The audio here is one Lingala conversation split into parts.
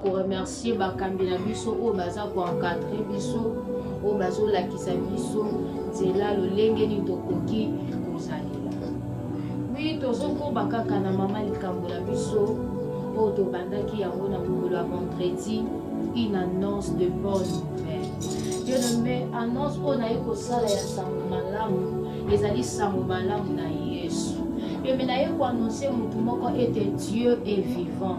ko remercier bakambi na biso oyo baza ko encadrer biso oyo bazolakisa biso nzela lolenge nini tokoki kozalela wi tozokoba kaka na mama likambo na biso oyo tobandaki yango na mokolo ya vendredi une annonce de bonne nouvelle yonome annonce oyo naye kosala ya sango malamu ezali sango malamu na yesu yome naye koannonce motu moko ete dieu est vivant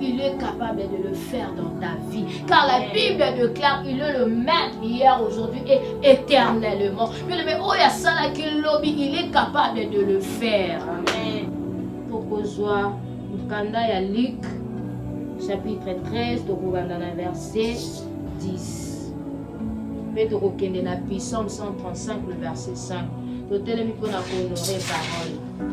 Il est capable de le faire dans ta vie. Car la Bible déclare il est le même hier, aujourd'hui et éternellement. Mais le oh, ya sala ki lobi, il est capable de le faire. Amen. Tokozwa mukanda ya Luc chapitre 13 tokobanda na verset 10. Mpe tokokende na Psaume 135 le verset 5. Totelemi mpo na kohonore parole.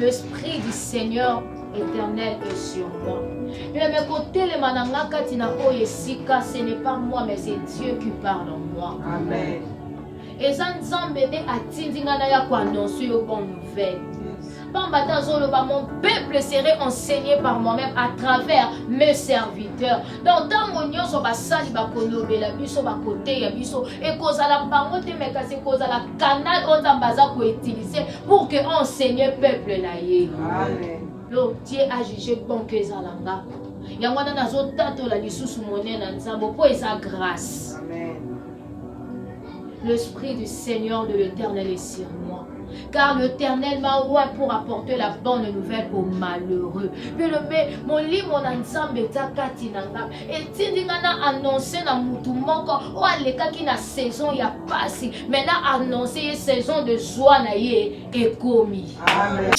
L'esprit du Seigneur éternel est sur moi. Meme kotelema na nga kati na oyo esika, ce n'est pas moi mais c'est Dieu qui parle en moi. Amen. Eza Nzambe nde atindi nga na ya ko annoncer yo bonne nouvelle. Pamba te azoloba mon peuple serait enseigné par moi-même à travers mes serviteurs. Donc ntango nyonso basali bakolobela biso bakoteya biso ekozala bango te mais kasi ekozala canal oyo nzambe aza koutilize pour que enseigne peuple na ye lo tie ajuge bon ke eza na nga yango wana nazotatola lisusu monene na nzambe mpo eza grâce l'esprit du seigneur de l'éternel est sur moi car l'Éternel m'a roi pour apporter la bonne nouvelle aux malheureux. Puis le molimo na nzambe eza kati na nga etindi nga na annonce na mutu moko oyo alekaki na saison ya pasi me na annonce ye saison de zwa na ye ekomi Amen.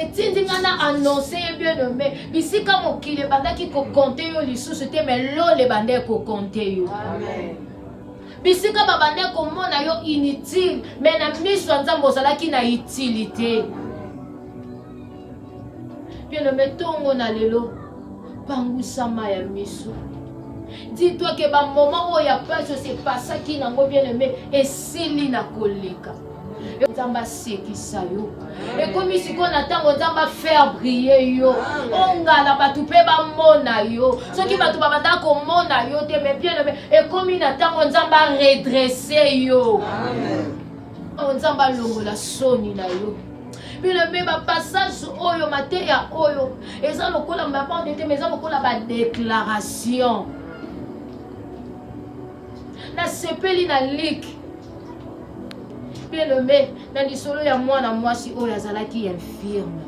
etindi nga na annonce ye bien nome bisika mokili ebandaki kokonte yo lisusu te me lola ebanda ekokonte yo Amen. bisika babanda komona yo inutile me na miso ya nzambe ozalaki na utilité Amen. Bien aimé, tongo na lelo, pangusa ma ya misu. Dis-toi que ba moment oyo ya pasi se pasaki nango bien aimé esili na koleka. nzambe asekisa yo ekomi sikoyo na ntango nzambe afaire brie yo ongala bato mpe bamona yo soki bato babanda komona yo te mais bien ekomi na ntango nzambe aredresse yo Amen. Oh, nzambe alongola soni na yo bino mpe bapassage oyo mateya oyo eza lokola mabande te ma eza lokola badéclaration nasepeli na like mpe lombe na lisolo ya mwana mwasi oyo azalaki infirme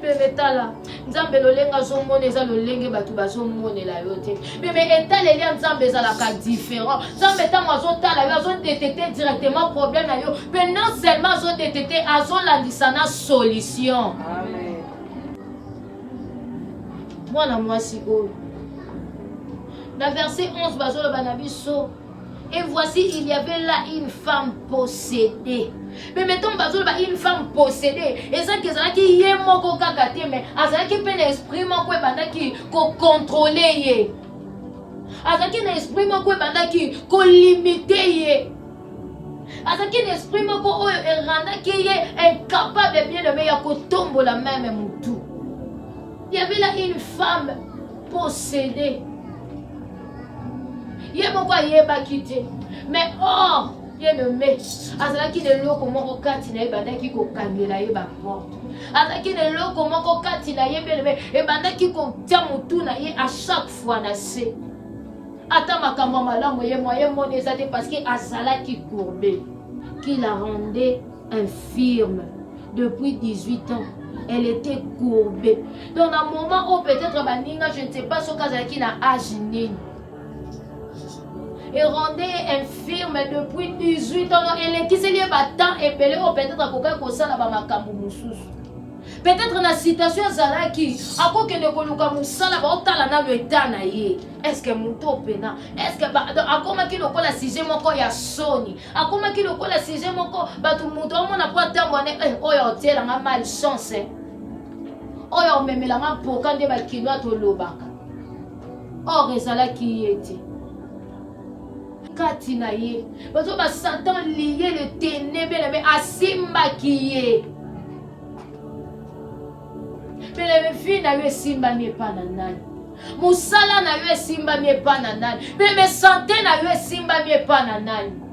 Bebe tala nzambe lolenge azomona eza lolenge bato bazomonela yo te bebe etaleli ya nzambe ezalaka différent nzambe ntango azotala yo azodetekte directement problème na yo mpe non seulement azodetekte azolandisa na solution mwana mwasi oyo na verset 11 bazoloba na biso Et voici, il y avait là une femme possédée. Mais mettons, bazolo, bah, une femme possédée. Et ça, qu'ils ont qui y est moko kakate, mais azala qui peine esprit moko et banda qui ko contrôler ye. Azala qui esprit moko et banda qui ko limiter ye. Azala qui esprit moko et randa qui est incapable de bien aimer ya ko tombo la même moutou. Il y avait là une femme possédée. ye moko ayebaki te mais or ye nome azalaki na eloko moko kati na ye ebandaki kokangela ye baporte azalaki na eloko moko kati na ye belebe ebandaki kotya motu na ye a chaque fois na se ata makambo ya malamu ye mwa ye moni eza te parce que azalaki courbe qui la rendait infirme depuis 18 ans elle était courbée donc na moment oyo peut-être baninga je ne sais pas soki azalaki na age nini erwandais ye infirme depuis 18 ans elekiseli ye batemp ebele oyo peut-être akokaki kosala bamakambo mosusu peut-être na situation azalaki akokende koluka mosala baotala nano eta na ye estce moto opena estce akomaki lokola sujet moko ya soni akomaki lokola sujet moko bato moto amona mpo atambo ane eh, oyo aotiela nga mal chance eh. oyo aomemela nga mpoka nde bakino atolobaka or ezalaki ye te kati na ye bato ba satan liye le tenebele me asimbaki ye Bellevue na yo esimbami epai na nani? Mosala na yo esimbami epai na nani? Bebe sante na yo esimbami epai na nani?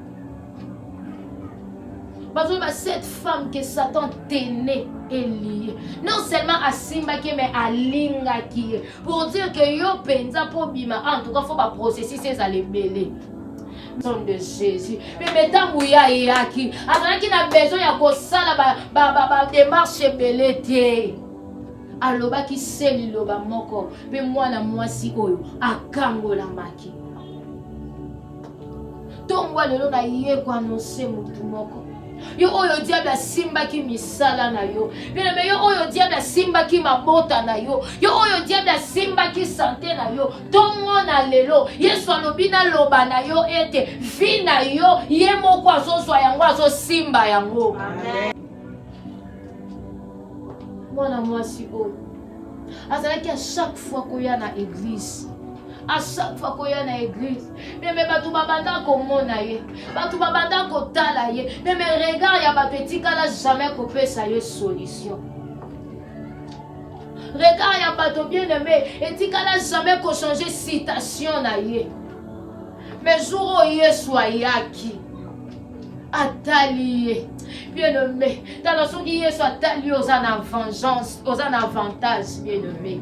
bazoyeba cette femme que satan tene elie non seulement asimbaki ye mais alingaki ye pour dire que yo mpenza mpo obima en tout cas fo baprocessus ezala ebele nom de jésus mpe me ntango ye ayaki azalaki na besoin ya kosala bademarche ebele te alobaki se liloba moko mpe mwana mwasi oyo akangolamaki ntongo lelo naye koanonse motu moko yo oyo diable asimbaki misala na yo bileme yo oyo diable asimbaki mabota na yo yo oyo diable asimbaki sante na yo ntongo na lelo yesu alobi naloba na yo ete vi na yo ye moko azozwa yango azosimba yango mwana mwasi oyo azalaki a chaque fois koya na eglise a chaque fois koya na eglise meme bato babanda komona ye bato babanda kotala ye meme regard ya bato etikala jamais kopesa ye solution Regard ya bato bien aimé etikala jamais ko changer citation na ye. Mais jour oyo Yesu ayaki atali ye bien aimé tala soki Yesu atali yo oza na vengeance, oza na avantage bien aimé.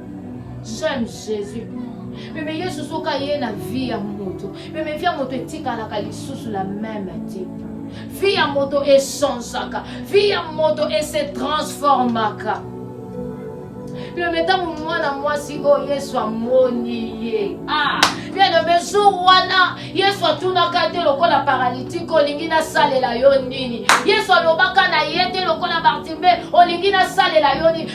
J'aime Jésus. Meme Yesu soki aye na vie ya moto, meme vie ya moto etikalaka lisusu la meme te. Vie ya moto echangeaka, vie ya moto ese transformaka. Meme ntango mwana mwasi oyo Yesu amoni ye ah, meme jour wana Yesu atunaka te lokola paralitike olingi nasalela yo nini? Yesu alobaka na ye te lokola Bartime olingi nasalela yo nini?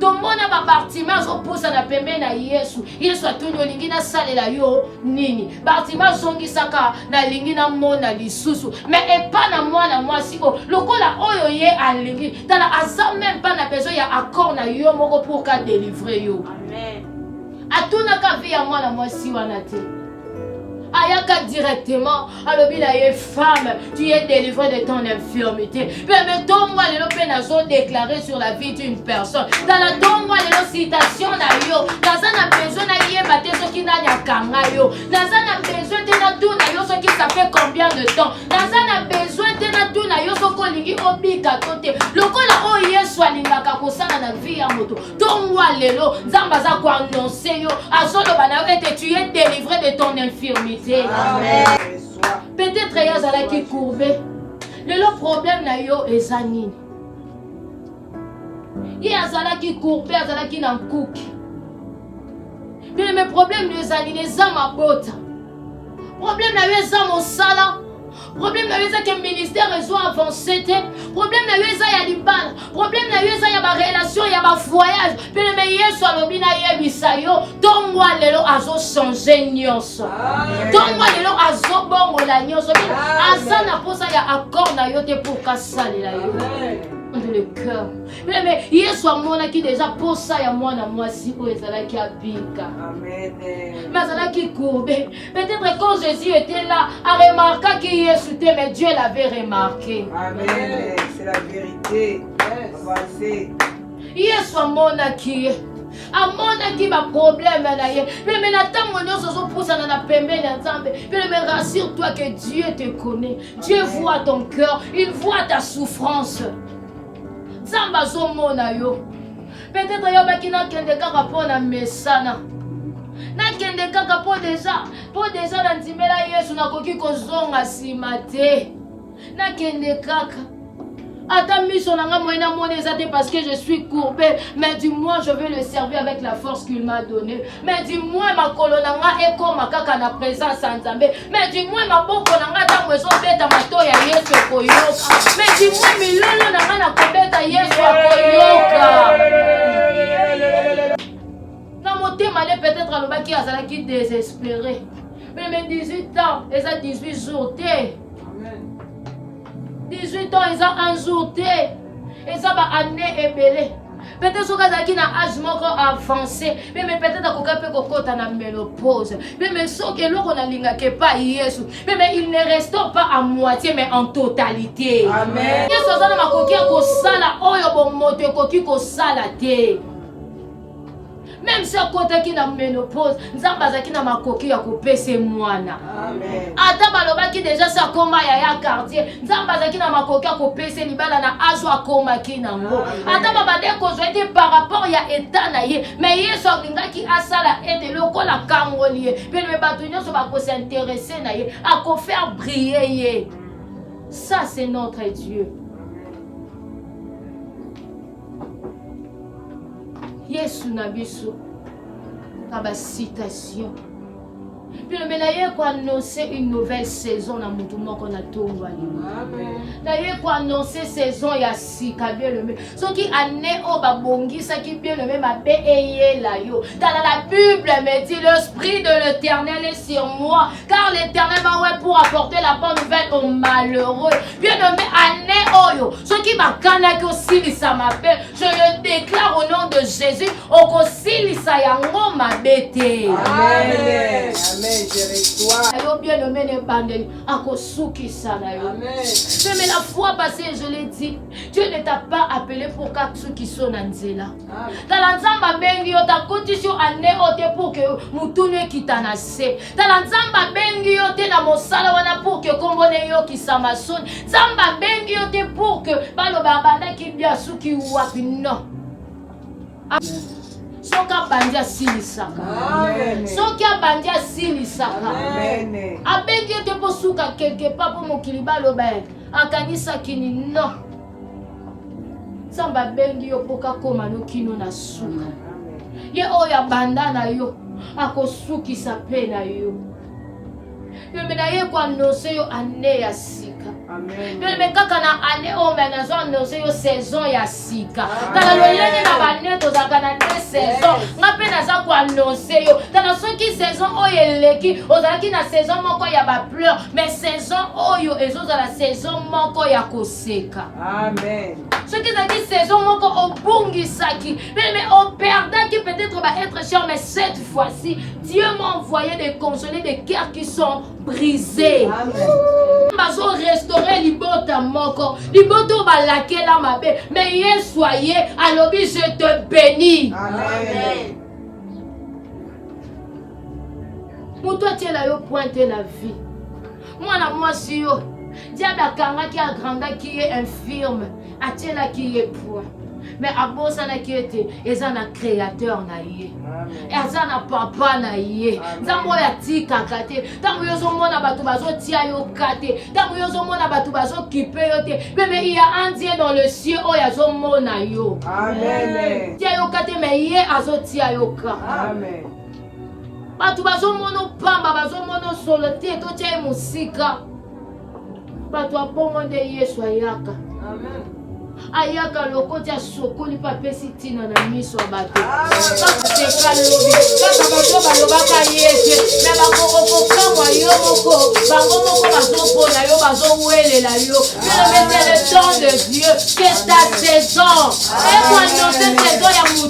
tomona babartima azopusana pembe na yesu yesu atuni olingi nasalela yo nini bartima azongisaka nalingi namona lisusu me epa na mwana mwasi oyo lokola oyo ye alingi tala aza meme mpa na besoin ya accord na yo moko pour ka delivre yo atunaka vi ya mwana mwasi wana te ayaka directement alobi na ye femme tu es délivré de ton infirmité mpe me ntongo ya lelo mpe nazo déclare sur la vie d'une personne tala ntongo ya lelo citation na yo naza na besoin nayeba te soki nani akanga yo naza na besoin te natuna yo soki ça fait combien de temps naza na besoin te natuna yo soki olingi obika to te lokola oyo yesu alingaka kosala na vie ya moto ntongo ya lelo nzambe aza koannonse yo azoloba na yo ete tu es délivré de ton infirmité peut-être ye azalaki courbe lelo problème na yo eza nini ye azalaki courbe azalaki na nkuki bino me problème na yo eza nini eza mabota problème na yo eza mosala problème na yo eza ke ministère ezo avance te problème na yo eza ya libala problème na yo eza ya barelation ya bavoyage peleme yesu alobi nayebisa yo ntongo ya lelo azochange nyonso ntongo ya lelo azobongola nyonso aza na mposa ya accord na yo te mpo kasalela yo de le cœur meme yesu amonaki deja mposa ya mwana mwasi oyo ezalaki abika me azalaki kourbe Peut-être quand Jésus était là, a remarqué qui Yesu était, mais Dieu l'avait remarqué. Amen. C'est la vérité. Yes. Yesu amonaki ye amonaki baproblème na ye mpe me na ntango nyonso ozopusana na pembeni ya nzambe mpe me rassure toi que dieu te connaît dieu voit ton cœur il voit ta souffrance nzambe azomona yo peut-être yobaki nakende kaka mpo na mesana nakende kaka mpo deja mpo deja na ndimela yesu nakoki kozonga nsima te nakende kaka ata miso na nga moye namoni eza te parce que je suis courbé mais du moins je vais le servir avec la force qu'il m'a donné mais du moins makolo na nga ekoma kaka na présence ya nzambe mais du moins maboko na nga ntango ezobeta mato ya yesu ekoyoka mais du moins milolo na nga nakobeta yesu akoyoka na motema ne peut-être alobaki azalaki désespéré meme 18 ans eza 18 jours te 18 ans eza un jour te eza ba année ebele peut-être soki azalaki na age moko avance meme peut-être akoka mpe kokɔta na melopose meme soki eloko nalingaka epai yesu meme il ne restons pas à moitié mais en totalité yesu aza na makoki ya kosala oyo bomoto ekoki kosala te meme si akotaki na menopause nzambe azalaki na makoki ya kopesa mwana ata balobaki deja si akoma ya ya quartier nzambe azalaki na makoki ya kopesa libala na azo akomaki nango ata babande kozwa ete par rapport ya etat na ye me yesu alingaki asala ete lokola akangoli ye pelome bato nyonso bakosinterese na ye akofaire briller ye ça c'est notre dieu yesu na biso na bacitation tolobela ye koannonce une nouvelle saison na motu moko na ntongo alimo na ye koannonce saison ya sika bielome soki année oyo babongisaki bielome mabe eyela yo tala la bible me dit l'esprit de l'éternel est sur moi car l'éternel va ouais pour apporter la bonne nouvelle aux malheureux bien nommé année oyo soki bakanaki osilisa mabe je le déclare au nom de jésus okosilisa yango mabe te yo bien nommé na ebandeli akosukisa na yo mais la fois passée je l'ai dit dieu ne t'a pas appelé pour kasukiso na nzela tala nzambe abengi yo takotisi yo ane oyo te pour ke motunu ekita na se tala nzambe abengi yo te na mosala wana pour ke nkombo na eyokisama soni nzambe abengi yo te pour ke baloba abandaki bia asuki wapi non soki abandi asilisaka soki abandi asilisaka abengi yo te mpo suka quelque part mpo mokili baloba akanisaki ni non nzambe abengi yo mpo kakoma no kino na suka ye oyo abanda na yo akosukisa mpe na yo yombe na ye koanonse yo ane ya sika yombe kaka na ane oyo oh, me nazo anonse yo saison ya sika tala lolenge na bane tozalaka na te saison nga mpe naza koanonse yo tala soki saison oyo eleki ozalaki na saison moko ya bapleur mais saison oyo ezozala saison moko ya kosi koseka soki ezalaki saison moko obungisaki meme operdaki peut-être ba être cher mais cette fois-ci dieu m'a envoyé de consoler des cœurs qui sont brisés bazo restaure libota moko libota oyo balakela mabe mais yesu aye alobi je te bénis Amen. moto atiela yo pointe na vie mwana mwasi yo diable akangaki agrandaki ye infirme atielaki ye poids me abosanaki ete eza na créateur na ye aza na papa na ye nzambe oyo atikaka te ntango yo ozomona bato bazotia yo ka te ntango yo ozomona bato bazokipe yo te meme iya andie dans le cieux oyo azomona yo tia yo ka te me ye azotia yo ka bato bazomono pamba bazomono solo te totya ye mosika bato ya bongo nde yesu ayaka ayaka lokoti asokoli mpe apesi ntina na miso ya bato bakoteka lobi kaka bato balobaka yete me bakokokokamwa yo moko bango moko bazopona yo bazowelela yo elobete le temps de dieu que ta saison ekoannonce saison ya moto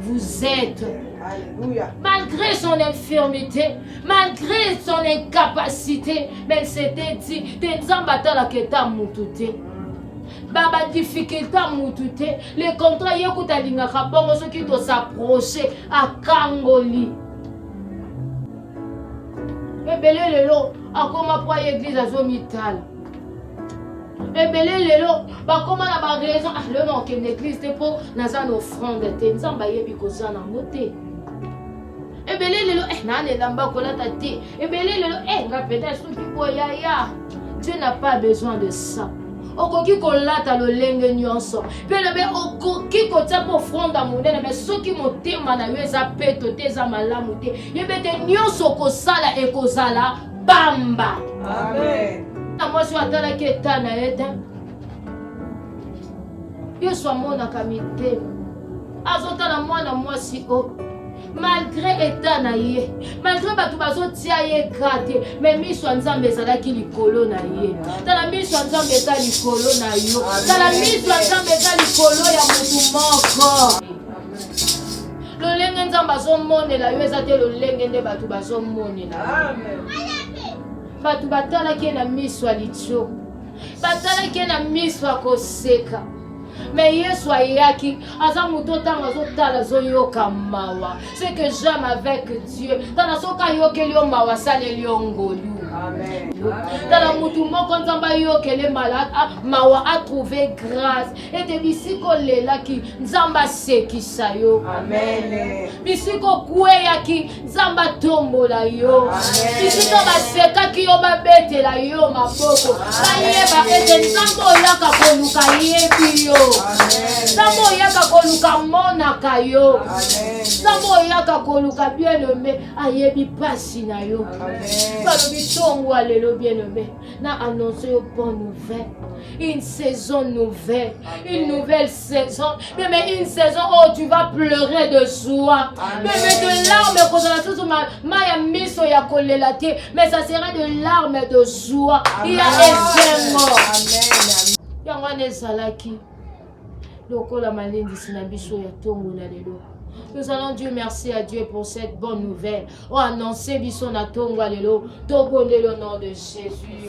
Vous êtes. Alléluia. Malgré son infirmité, malgré son incapacité, mais c'était dit, te nzambe atalaka eta mutu te baba difficulté ya mutu te le contrat ye kuta alingaka bongo soki tosaproche akangoli ebele lelo akoma mpo aye eglize azomitala ebele lelo bakoma na baraison ah, lelo nakokende eglise te mpo naza na offrande te nzambe ayebi koza nango te ebele lelo eh, naa na elamba kolata te ebele lelo eh, nga mpenza esuki boyaya dieu n'a pas besoin de ça okoki kolata lolenge nyonso mpe lobe okoki kotya mpo ofronda monene me soki motema na yo eza peto te eza malamu te yebete nyonso okosala ekozala pamba na mwasi oyo atalaki eta na ye te yesu amonaka mitema azotala mwana mwasi oyo oh. malgre eta na ye malgre bato bazotia ye gra te me miso ya nzambe ezalaki likolo na ye tala miso ya nzambe eza likolo na yo tala miso ya nzambe eza likolo ya motu moko lolenge nzambe azomonela yo eza te lolenge nde bato bazomonela bato batalaki ye na miso ya litio batalaki ye na miso ya koseka me yesu ayaki aza moto ntango azotala azoyoka mawa ce que j'aime avec dieu tala soki ayokeli yo mawa asaleli yo ngolu tala motu moko nzambe ayokele mawa atrouve grâce ete bisika olelaki nzambe asekisa yo bisika okweyaki nzambe atombola yo bisika basekaki yo babetela yo maboko bayeba ete nzambe oyaka koluka yebi yo nzambe oyaka koluka monaka yo nzambe oyaka koluka bienome ayebi mpasi na yo balobi tongo alelo bienome na annonce yo bonne nouvelle une saison nouvelle une nouvelle saison meme une saison oyo tu vas pleurer de joie meme de larme ekozala susu ma ya miso ya kolela te mais ça sera de larme de joie ya esengo yango wana ezalaki lokola malendisi na biso ya ntongo na lelo Nous allons Dieu merci à Dieu pour cette bonne nouvelle. Oh, annoncez biso na tongo alelo. Tobonde le nom de Jésus.